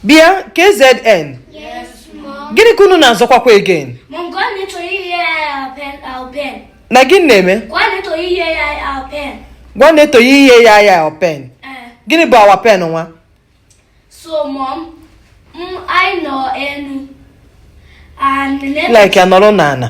bịa KZN gịnị ka unu na-azọkwakwa again nna gịnị na-eme ngwa Naeto ihe ya ya pen gịnị bụ our pen nwa like ya nọrọ n'ala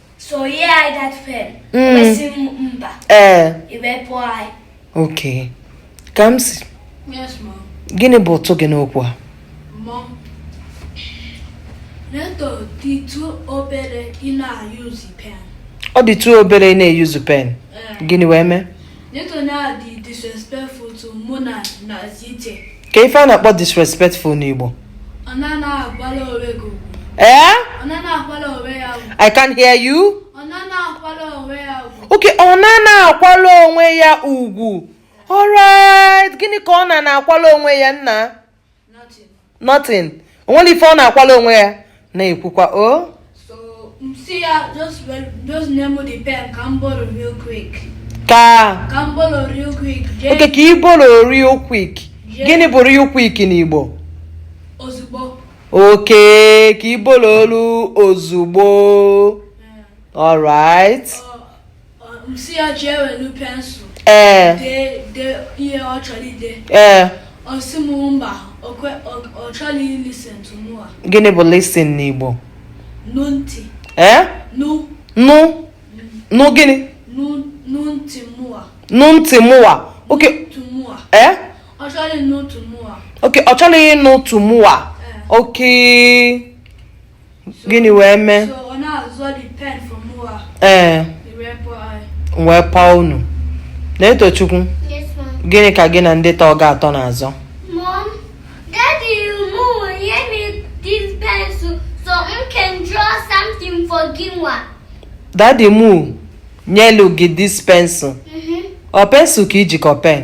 ee okay Kamsi gịnị bụ ụtụ gị n'okwu a ọ dị too obere ị na-use pen gịnị wee mee kee ife a na-akpọ disrespectful n'Igbo ee I can hear you okay ọ na na-akwala onwe ya ugwu alright gịnị ka ọ na na-akwala onwe ya nna nothing o nwere ife ọ na-akwala onwe ya na-ekwukwa o oh. si ya just just nye m the pen ka m borrow real quick ka ka m borrow real quick okay ka ị borrow real quick gịnị bụ real quick n'Igbo ozugbo okay ka ị borrow olu ozugbo alright ee ee gịnị bụ listen n'Igbo ee nụ nụ gịnị nụ ntị mụwa okay ee okay ọ chọghị ịnụ ntị mụwa okay gịnị wee mee ee eh. wee paa unu Naetochukwu gịnị ka gị na ndị tọ gị atọ na-azọ daddy mụ nyelu gị this pencil mm-hmm. ọ pencil ka i ji ka ọ pen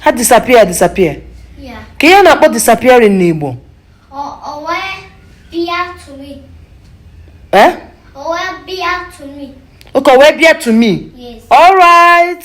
ha disappear disappear kee ihe a na-akpọ disappearing n'Igbo eh? okay o wee bịa to me all right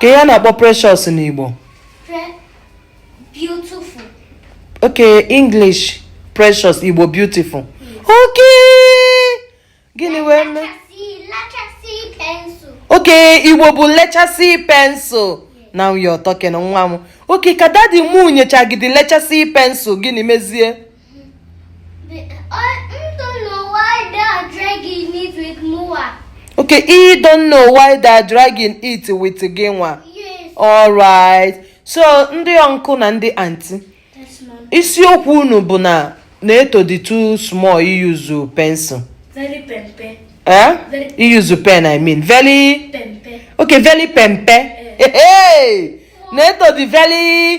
kee ihe a na-akpọ precious n'Igbo okay English precious Igbo beautiful okay gịnị wee mee okay Igbo bụ lechasị pencil now you're talking nwa m okay ka daddy m nyecha gị the lechasị pencil gịnị mezie Okay, I don't know why they're dragging it with gị nwa. Yes. Alright. So ndị uncle na ndị aunty. Isiokwu unu bụ na Neto dị too small iyuzu pencil. Very pempe. Eh? Very iyuzu pen I mean. Very pempe. Okay, very pempe. Eh. Hey, hey. Neto dị very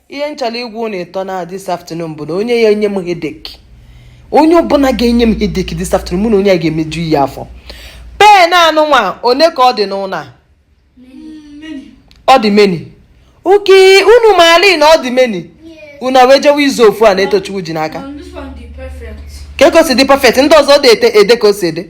ihe m chọrọ ịgwa ụnụ ịtọ na this afternoon bụ na onye ya-enye m headache onye ọbụla ga-enye m headache this afternoon mụ na onye a ga-emeju ihe afọ pen a nụnwa one ka ọ dị n'ụlọ a ọ dị many okay unu maali na ọ dị many unu wee jewe ịzọ ofu a Netochukwu ji n'aka kee ka o si dị pen ndị ọzọ adị ede ka o si ede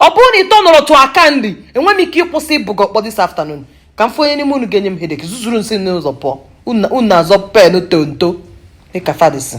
ọ bụrụ na ị tọnọrọ to aka nri enwe m ike ịkụsi ị bụ gị ọkpọ this afternoon ka m fụ onye n'ime unu ga-enye m headache zuzurunụ si n'ụzọ pụọ unu na-azọ pen tonto dịka fadisi